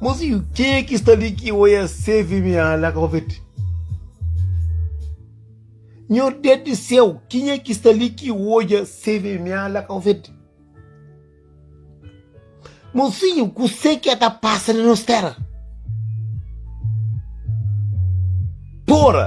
Mozinho, ke ki sta li ki oia CVMA la ka papete? Nhor Deus di seu, kinha ki sta li ki oia CVMA la ka papete? Mozinho, kuse ke ta pasa na nos tera? Pora!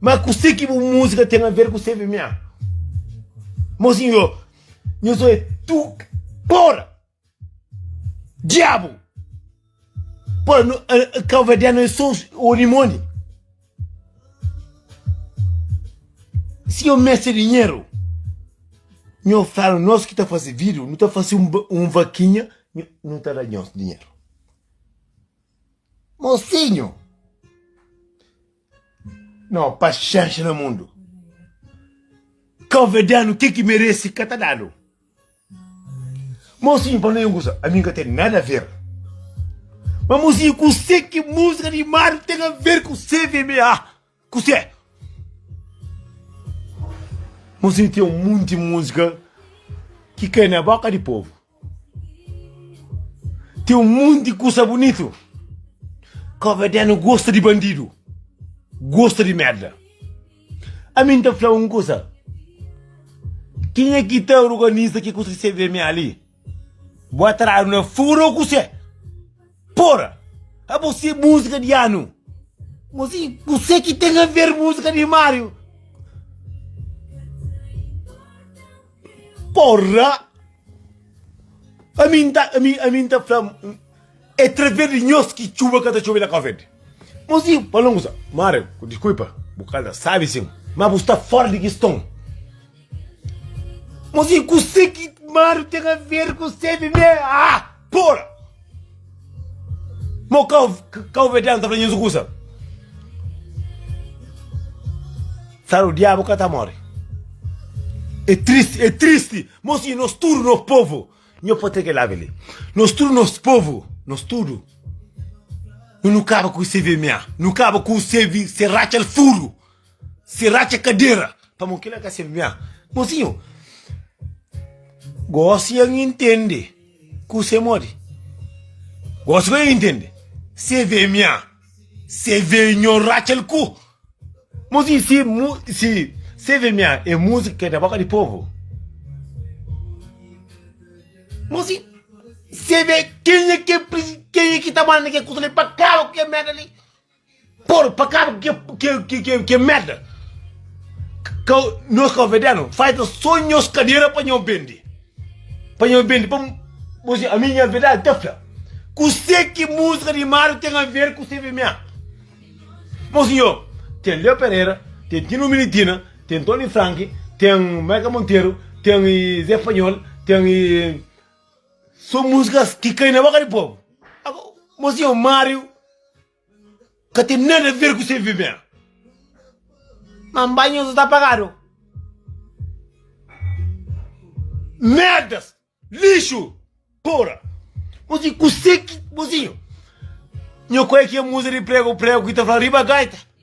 Ma kuse ki bu musika ten a ver ku CVMA? Mosinho, nho so é tu pora! Diabu! Pora, no, uh, Cabo-Verdiano é só Orimoni. Se eu mexer dinheiro, eu falo, nós que está fazer vídeo, não está fazendo um, um vaquinha, não está dando dinheiro. Mosinhu! No, paxenxa na mundu. Kave danu ke ki meresi ka ta danu. Mosinhu, pa no e un kusa, ami ka ten nada a ver. Ma mosinhu, kuse ki musika di Mario ten a ver ku CVMA? Kuse? Mos e ten munti múzika ki kai na boka di povu. Ten un munti kusa bunitu ka obedenu gosta di bandidu, gosta di merda. Ami nta fla un kusa, kenha ki ta organiza ki kusa ki CVM ali? Bo atradu na furo kuse pora abo se musika di anu mo si kuse ki ten aver musika di mario porra ami ami ami nta fla É trevê di nhos ki txuba ka ta txobe na Káuvéd. Mozinho, pa longu sa. Mário, ku diskuipa, bu ka ta sabe sin, ma bu sta fóra di kiston. Mozinho, kusé ki Mário ten aver ku sebe mê? Ah! Pora! Mo kau, kauvedeanu ta fla nhos kusa. Saro diabu ka ta more. É tristi, é tristi. Mozinho, nos tudu, nos povo, Nho pâtria ke la bele. Nos tudu nos povu, nos tudu Nu nu kaba ku se vma, nu kaba ku se vi, se ratxal furu, se ratxa kadera Pamo kila ka se mma. Mosinho, gosi ya N intende ku se modi, gosi ku ya N intende se vma. Se vê nho ratxel ku Mo si si mu si Se vê mia é músika ki é na bóka di povu Mo si Se vê kenha ki é presi kenha ki ta manda ke kuza li pa kaba ku ke merda li Pô-l pa kaba ku ke ke ke ke merda Ka nos kaverdianu falta so nhos kadera pa nho bende. Pa nha bendi pa bo si ami nha verdade ta fla kuse ki musika di mario ten aver ku cvma bo si yo ten leo pereira ten tino militina ten tony frank ten michael monteiro ten zé panhol ten so musikas ki kai na boka di pobu bo si yo mario Ka ten nada ver ku se viver. Mas banhos ta apagado. Merdas, lixo, pora. Mozinho, kuse ki, mozinho. Nho kue ki é musa de prego, prego ki ta fla riba gaita.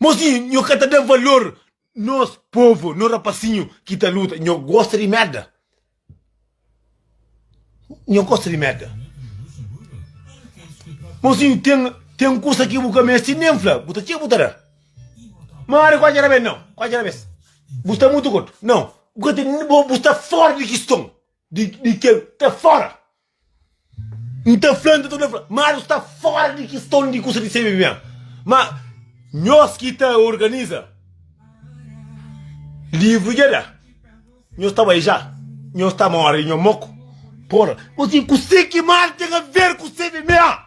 Mozinhu nho ka ta da valor nos povo no rapasinho ki ta luta nho gosta di merda nho gosta di merda mozinho tem tem kusa ki bu ka meste nem fla bu ta txê bu ta da mari ku atxera bem não ku atxera bes bu sta mutu kortu não bu ka ten bo bu sta fora di kiston di di kel ta fora N ta fla, N ta torna fla, Marius sta fora di kiston di kusa di sebe bia. Ma nhos ki ta organiza livru dja da, nhos ta bai ja, nhos ta mori nho moku. Pora, Ô sin, kuse ki Marius ten aver ku sebe bia?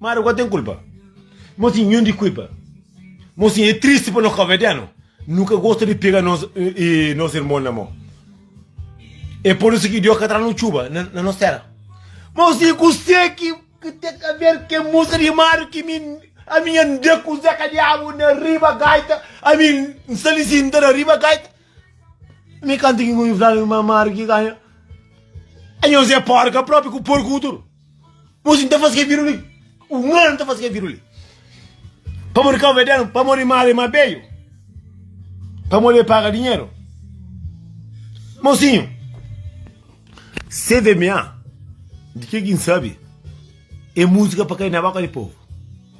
Mara gosi ten kulpa. Mo sin nhun di kuipa. Mo sin e tristi pa nos kabediano. Nu ka gosta di pega nos e nos irmon na mo. E por isso que Deus ka tra nu chuba na, na nos terra. Mo sin ku se ki que tem a ver que música de Mário que me a minha anda com Zeca Diabo na riba gaita, a mim salicindo na riba gaita. Mi kanta ki ngui fla mi mamar ki ka Anhô Zé Porka propi ku porku ku tudu Mosi nta fasi ke viru li Umanu nta fasi ke viru li Pamo di Kauberdenu pamo di Mari Mabeyu Pamo di e paga dinheru Mosinhu CVMA di ke ki nsabi e musika pa kai na boka di povu.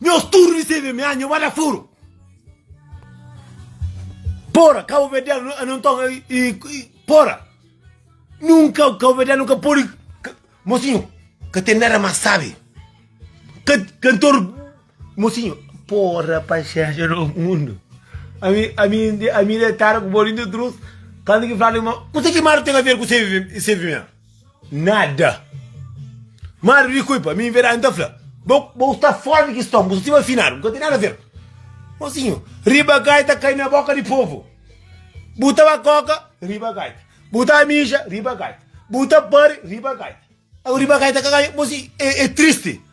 Nhos tudo di sebe mi anha wada furo. Pora cabo verdeano não então pora nunca o cabo verdeano nunca pode mocinho que tem nada mais sabe que cantor mocinho pora paixão no mundo a mim a mim a mim é tarde com bolinho de trouxe quando que fala uma o que que mais tem a ver com o CVM Nada. Madu di kui pa mi inverdadi nta fla bo bo sta fora di kiston bu sta siba afinadu bu ka ten nada a ver mosinho riba gaita kai na boka di povo bu ta ba koka riba gaita bu ta mija riba gaita bu ta pari riba gaita agora riba gaita ka ganha mosi e e triste.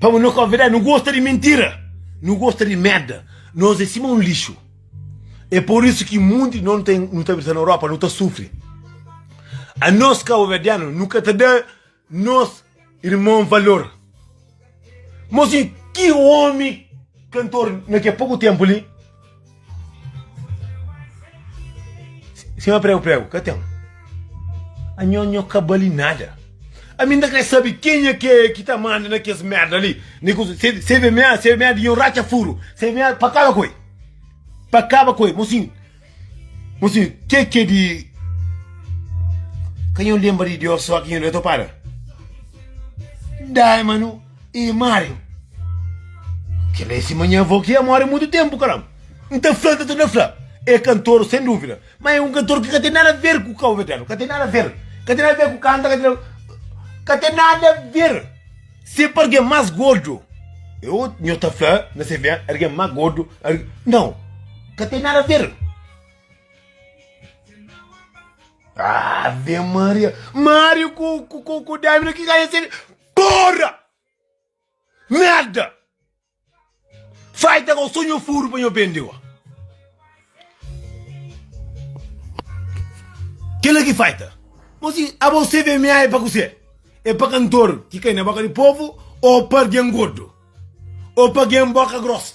Pa bu nu ka verdadi nu gosta di mintira nu gosta di merda nos é sima un lixu é por isso ki munti non tem nu ta abitá na europa nu ta sufri a nos kabuverdiano nu ka ta da nos irmon valor mozinho ki omi kantor na ke poku tempu li Sima pregu pregu, ka ten. Anho anho ka bali nada. A mim da quer saber quem é que é que tá mandando aqueles merda ali. CVMA, CVMA de um racha furo. CVMA para acaba com ele. Para acaba com ele. Mocinho, mocinho, que é que é de... Quem eu lembro de Deus só que eu não para. Dai, mano. E Mário, kel é sima nha avó ki é móre mutu ténpu, karam. N ta fla-l, ta torna fla. É kantor, sen dúvida, má é un kantor ki ka ten nada ver ku Cabo Verdiano, ka ten nada ver, ka ten nada ver ku kanta, ka ten nada, ka ten nada ver. Se pa algen más gordu, é otu, nho ta fla na se via, algen má gordu, al, nau, ka ten nada ver. Ave Maria! Mário ku, ku, ku, ku Dávila ki ka é se. Porra! Merda! Fai ta kau sonho furu pa nho bende wa. Kela ki fai ta. Mosi, abo seve mea e pa kuse? E pa kantor ki kai na boka di povo o pa gen gordo? O pa gen boka grosa?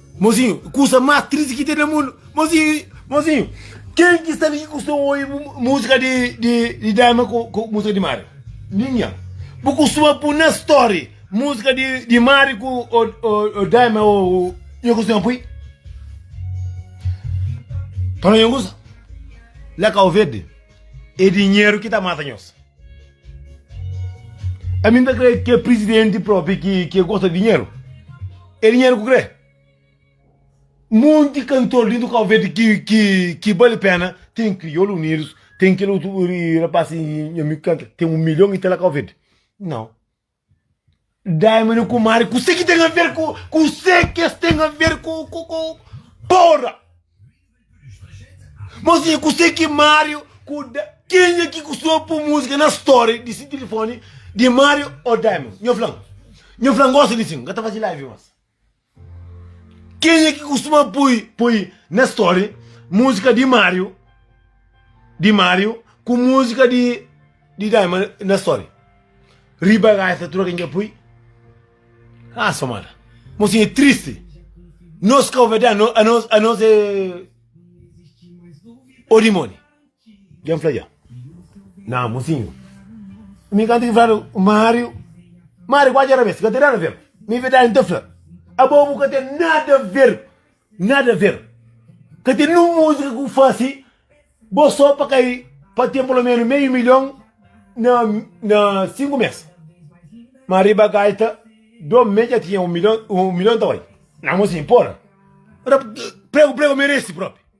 Mozinho, kusa más tristi ki ten na mundu. Mozinho, mozinho, ken ki sta li ki kusta obi múzika di di di Daima ku ku múzika di Mari? Ninhan. Bu kustuma pui na story múzika di di Mari ku o o o Daima o nha kustuma pui? Pa no nha kusa? La Kauverdi. É dinheru ki ta mata nhos. Ami n ta krê ki é prizidenti própi ki ki é gosta di dinheru. É dinheru ku krê. Monti kantor dentu Kau Verdi ki ki ki bali péna, ten Kriolu Unidus, ten kel otu rapasi nha ami ki kanta, ten un milhon i ta la Kau Verdi. Nau. Dai ma nu kumari kuse ki ten aver ku kuse ki es ten aver ku ku ku porra Mos di kuse ki Mario ku Dai kenha ki kusuma pui musika na story di si tilifoni di Mario o Dai ma nho flan nho flan gosi di si n ka ta fazi live mas. Kenha ki kustuma pui pui na story múzika di Mário di Mário ku múzika di di Daima na story? Riba gaifa tudu kenha pui? Ah, so mala. Mosin é triste. Nos ka ovedé anos anos é o dimoni. Gen fla dja, na mozinhu, mi kantu ki fladu ku Mário, Mário ku atxa rabês, ka ten nada a ver, mi verdadi N ta fla, abo bu ka ten nada a ver, nada a ver, ka ten nin un múzika ki bu fase bo sô pa kai, pa ten pulomenu meiu milhon na na sinku mês, ma riba gaita do me dja tinha un milhon, un milhon ta bai, na mozinhu, pora, pregu pregu merese propi.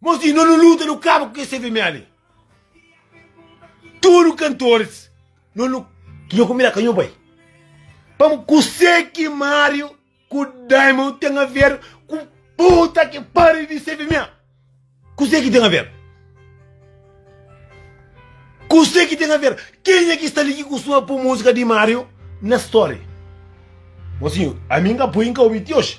Mos di no nu luta nu kaba ku kes CVMA li. Tudu kantoris no nu ki nho konbida ka nho bai. Pam kuse ki Mario ku Diamond ten a ver ku puta ki pariu di CVMA? Kuse ki ten a ver? Kuse ki ten a ver? Kenha ki sta li ki kustuma po musika di Mario na story? Mosinhu ami n ka poi n ka obi ti oji.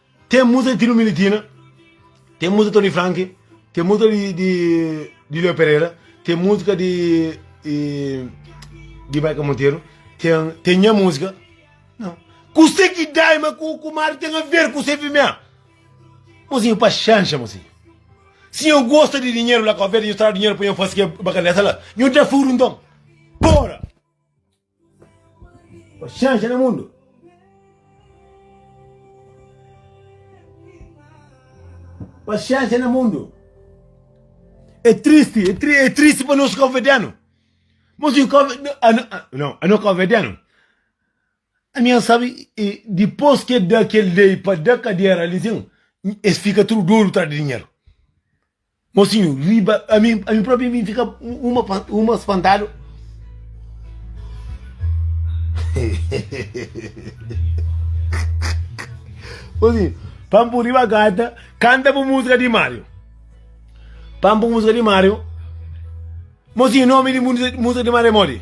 Tem musa di Tino Militina, tem musa di Tony Frank, tem musa di, di, di Leo Pereira, tem música di, di, di Michael Monteiro, tem, tem minha música. Não. Cusé que dá, mas com o Kumar tem a ver com o CFMA. Mozinho, para chancha, mozinho. Se eu gosto de dinheiro lá com a ver, eu trago dinheiro para eu fazer que é bacana, essa lá. Eu já furo então. Bora! Paxénxa na mundu. Paxénxa na mundu. É tristi, é tri, é tristi pa nos cabo-verdiano. Mas nós cabo, não, a nós cabo-verdiano. A minha sabe, e depois que dá aquele lei para dar cadeira ali, sim, eles ficam tudo duro atrás de dinheiro. Mosinhu riba ami ami propi mi fika uma uma spantadu Mosinhu pampu riba gata kanta bu musika di Mario pampu musika di Mario Mosinhu nomi di musika di Mario é modi.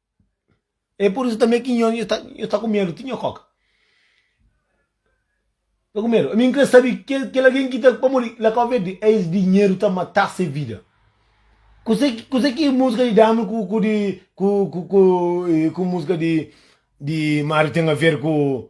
É pur isu tanbê ki nho nho sta ku medu ti nho kóka. Sta ku medu. Ami N krê sabe ki kel algen ki ta pamodi la Kau Verdi é es dinheru ta mata se vida. Kuzê ki kuzê ki múzika di Dami ku ku di ku ku ku múzika di di Máriu ten aver ku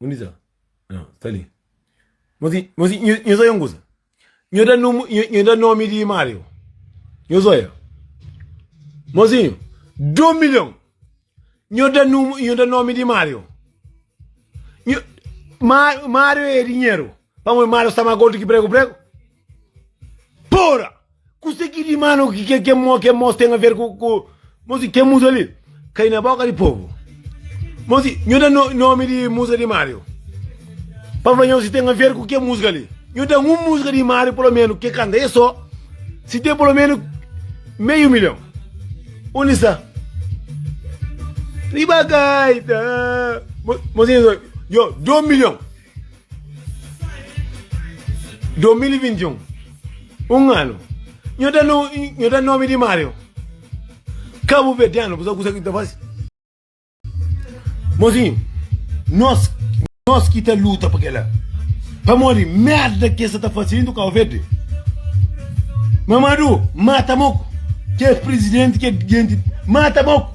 Undi sta? Ah, sta li. Mas, mas nho zóia nguza. Nho dá nome, nho dá nome de Mário. Nho zóia. Mozinho, 2 milhão. Nho dá nome, nho dá nome de Mário. Nho, Mário é dinheiro. Vamos, Mário está mais gordo que prego, prego. Pora! Kuse ki di manu ki ke, ke, mo, ke mos ten a ver ku, ku mosi ke musa li? Kai na boka di povu. Mosi, nhu da no, nomi di musa di Mario. Pa fla nho si ten a ver ku ke musga li. Nhu da un musga di Mario polomenu ke kanta e so, si ten polomenu meiu milhon. Undi sta? Riba gaita. Mo, mosi, nho, do milhon. 2021 un anu nho da no nho da nome di Mario cabo verdiano bu sabe kusa ki ta fasi mozinho nós nós ki ta luta pa kela pamodi merda ki esa ta fasi dentro cabo verde Mamadou mata moko ki é presidente ki é gente mata moko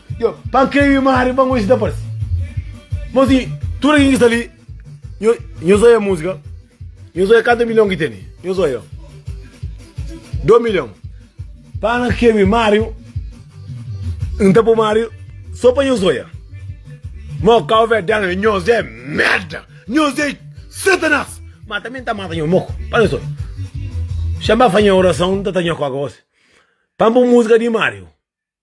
Yo, pa n krê-u i Mário ba ngosi ta parse Mon si tudu algen ki sta li Nho, nhos oia múzika Nhos oia kantu milhon ki tene Nhos oia Dô milhon Pa N krê-u i Mário N ta pô Mário Sô pa nhos oia Má kau verdén é Nhos é merda Nhos é satanás Má tanbe N ta mata nhos moko Pa nhos oia Xa N ba fadja nha orason N ta tra nha kóka gósi Pa N pô múzika di Mário.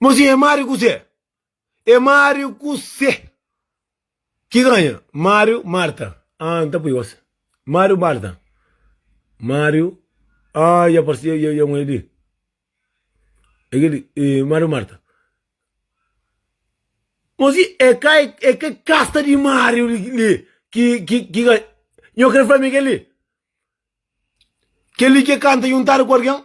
Mo si é Mario Kuzé? É Mario Kuzé ki ganha? Mario Marta Ah, N ta pui gosi Mario Marta Mario Ah, ya parse ya, ya un el li É kel li, e Mario Marta Mo si é ka, é kel kasta di Mario li li ki, ki, ki ganha? Nho kre fla ma é kel li Kel li ki é kanta juntadu ku algen?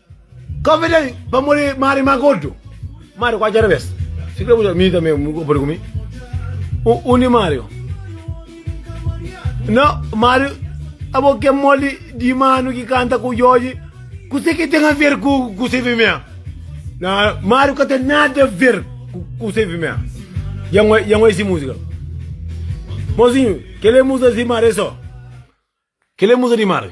Convidei pa modi mari ma gordu. Mario ku atxa revés. Si kre buja mi tambe mu podi ku mi. U, undi Mario? No, Mario, abo ke modi di manu ki kanta ku Jorge, kuse ke ten a ver ku ku se fimea? Na, Mario ka ten nada a ver ku ku se fimea. Ya ngoi, ya ngoi si musika. Mozinho, kele musa si Mario so. Kele musa di Mario.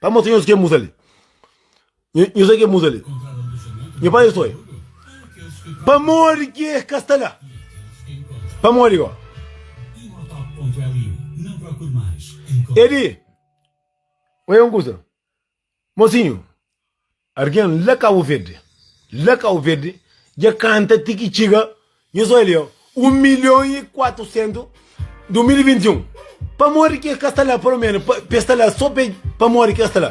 Pa mostra nhos ken musa li. Nhos é ken musa li. Nho pai nhos foi. Pamodi ki es ka sta la? Pamodi go? E di, Oja un kusa, mosinhu. Argen la Kabu Verde, la Kabu Verde, dja kanta ti ki txiga, nhos oi li, 1 milhon i 400, 2021, pamodi ki es ka sta la palomenu pa es sta la so pe pamodi ki es sta la?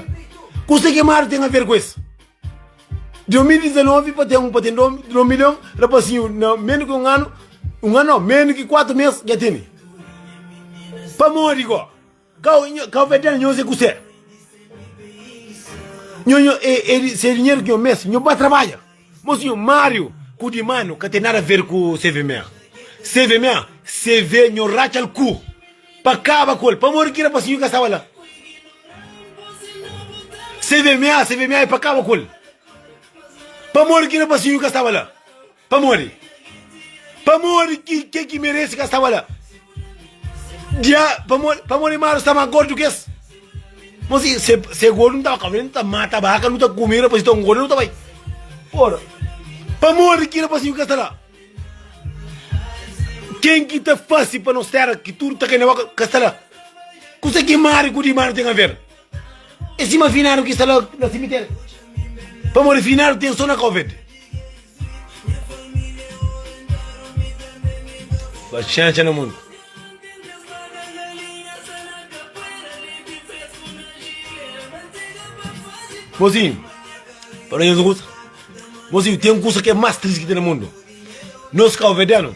Kuse ki Mario ten aver ku es? 2019 pa ten pa ten 2 milhon rapasinhu na menu ki un anu, un anu no, menu ki 4 mes dja tene, pamodi go? Kau nho, kau fedel nhos e kusé? Nho, nho, e, e di se dinheiro ki nho mes, nho ba trabalha. Moço, nho, Mário, ku di manu ka ten nada ver ku CVMA. CVMA, CV nho ratxal ku, pa kaba ku el, pamodi ki rapaszinho ki ka staba la. CVMA, CVMA e pa kaba ku el, pamodi ki rapaszinho ki ka staba la. Pamodi? Pamodi ki ke ki merese ka staba la? Dia, pamodi, pamodi Maru sta más gordu ki es? Mas i, se, se gordu nu tava ka bai, nu ta mata baka, nu ta kume rapazinhu ton gordu, nu ta bai. Ora, pamodi ki rapazinhu ka sta la? Ken ki ta fase pa nos tera ki tudu ta kai na boka ka sta la? Kuse ki Mari ku di Manu ten aver? É sima finadu ki sta la na simitéri Pamodi finadu ten so na kau verde Paxénxa na mundu Mozinhu, pa nu nhos kusa Mozinhu, ten kusa ki é más tristi ki ten na mundu Nos kauverdianu.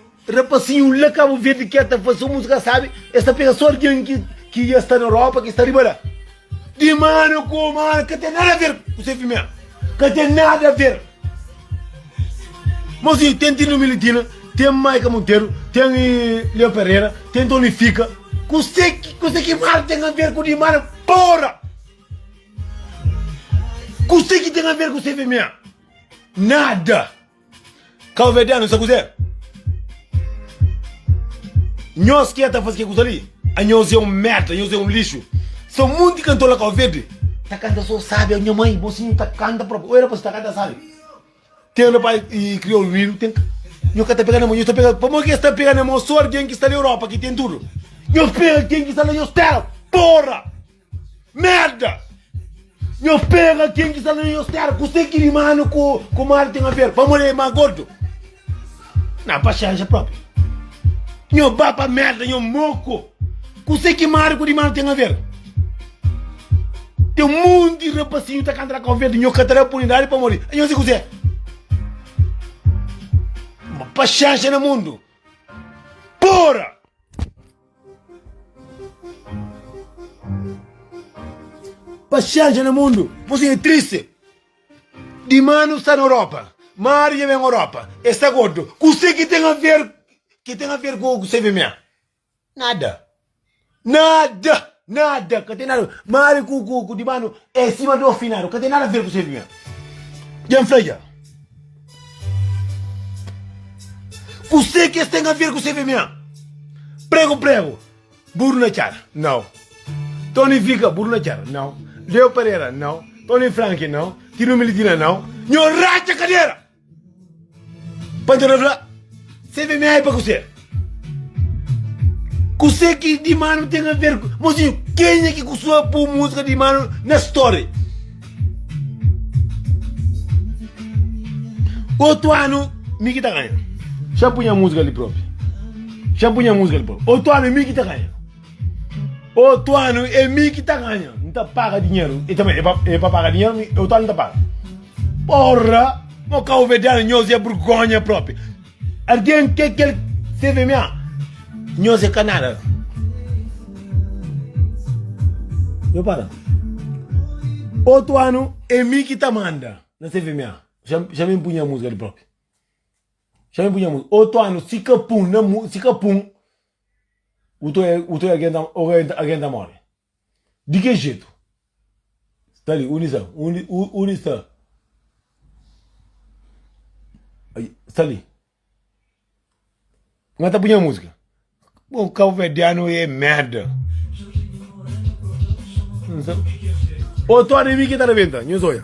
Rapasinhu la Cabo Verde ke ta fase so musica sabe es ta pega so argen ki ki ya sta na Europa ki sta riba la di mana ku mana ka ten nada ver ku se fimia ka ten nada ver mosinhu ten Tino Militina ten Maika Monteiro ten Leo Pereira ten Tony Fica ku se ki ku se ki mar ten a ver ku di mana pora ku se ki ten a ver ku se fimia nada Kauverdianu sa kuzê? Nhos ki é ta faze ke kuza li? Anhos é un merda, anhos é un lixu. Sta un monti kantor la Kauverdi ta kanta so sabi, nha mai bo si ta kanta propi. Oi rapaz ta kanta sabi. Ten rapaz kriol unidu ten nhos ka ta pega na mon, nhos ta pega pamodi ke sta pega na mon so algen ki sta la Europa ki ten tudu. Nhos pega ken ki sta la nhos tera, porra! Merda! Nho pega ken ki sta na nhos tera, kuse ki rimanu ku ku mal ten aver? Pamodi el e ma gordu? Na pa xanja propi. Nho ba pa merda, nho moku. Kuse ki mal ku rimanu ten aver? Ten munti rapasinhu ta kanta na kau verdi, nho ka ta da oportunidadi pamodi nho si kuse. Paxenxa na mundu. Pora! Paxénxa na mundu, mos é tristi Di manu sta na Europa Mari dja ben Europa E sta gordu Kuse ki ten aver Ki ten aver ku CVMA? Nada Nada Nada Ka ten nada Mari ku ku ku Di manu é sima di orfinadu Ka ten nada aver ku CVMA Dja N fla dja Kusé ki es ten aver ku CVMA? Pregu, pregu, buru na cara? Nau. Tony Vica, buru na cara? Nau. Leo Pereira, nau. Tony Frank, nau. Tino Militina, nau. Nho raca cadera! Panta na fla, CVMA é pa kusé? Kusé ki di manu ten a ver ku. Mozinho, kenha ki kustuba pô múzika di manu na story? Otu anu mi ki ta ganha. Xa pui nha múzika li própi. Xa pui nha múzika li própi. Otu anu é mi ki ta ganha. Otu anu é mi ki ta ganha. N ta paga dinheru. E tanbê é pa, é pa paga dinheru, mi, otu anu n ta paga. Porra! Mo kabuverdianu, nhos é burgónha própi. Algen ke kel seve mia nhos e ka nada na. Nho para otu anu e mi ki ta manda na seve mia xa mi pun nha musika di propi xa mi pun nha musika otu anu si ka pun na mu si ka pun utu utu algen ta morre. Di ke jetu? Sta li, undi sta? Undi, u, undi sta? Ai, sta li. Nga ta punha música. Bom, calverdiano é merda. Ô, Tony, mi ki ta rebenta, nhos oia.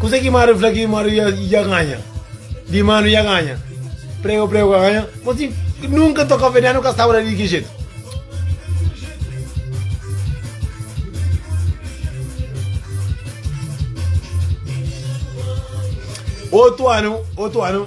Kuzê ki Máriu fla ki Máriu dja ganha? Di ma nu dja ganha. Prega ku prega ku anha. Má si nunka ta ka fedê, nu ka staba la di ki jetu? Otu anu, otu anu.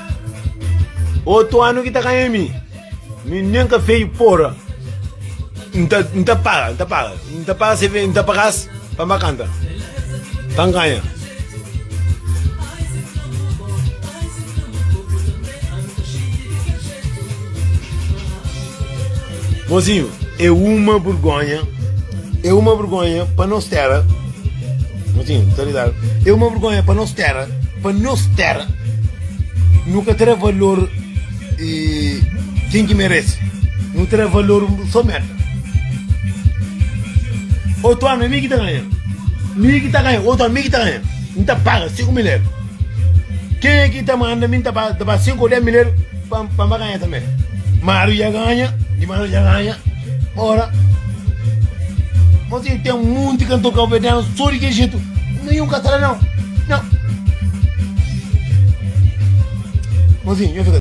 Otu anu ki ta kanha mi. Mi nem ka feio porra. Nta, nta paga, nta paga. Nta paga se vem, nta pagas pa ma canta. Tá ganha. Mozinho é uma burgonha É uma burgonha pa nos tera Mozinho ta lidar É uma burgonha pa nos tera Pa nos tera Nu ka ta da valor e Kin ki merece Nu ta da valor so merda Otu anu é mi ki ta ganha Mi ki ta ganha Otu anu mi ki ta ganha N ta paga sinku miler Kenha ki ta manda mi N ta paga N ta paga sinku ou dez miler Pam ba ganha tanbe Mario dja ganha di Mario dja ganha ora mo tin tem monte cantor cabo-verdiano só di que jeito nenhum catará não não mozinho eu fica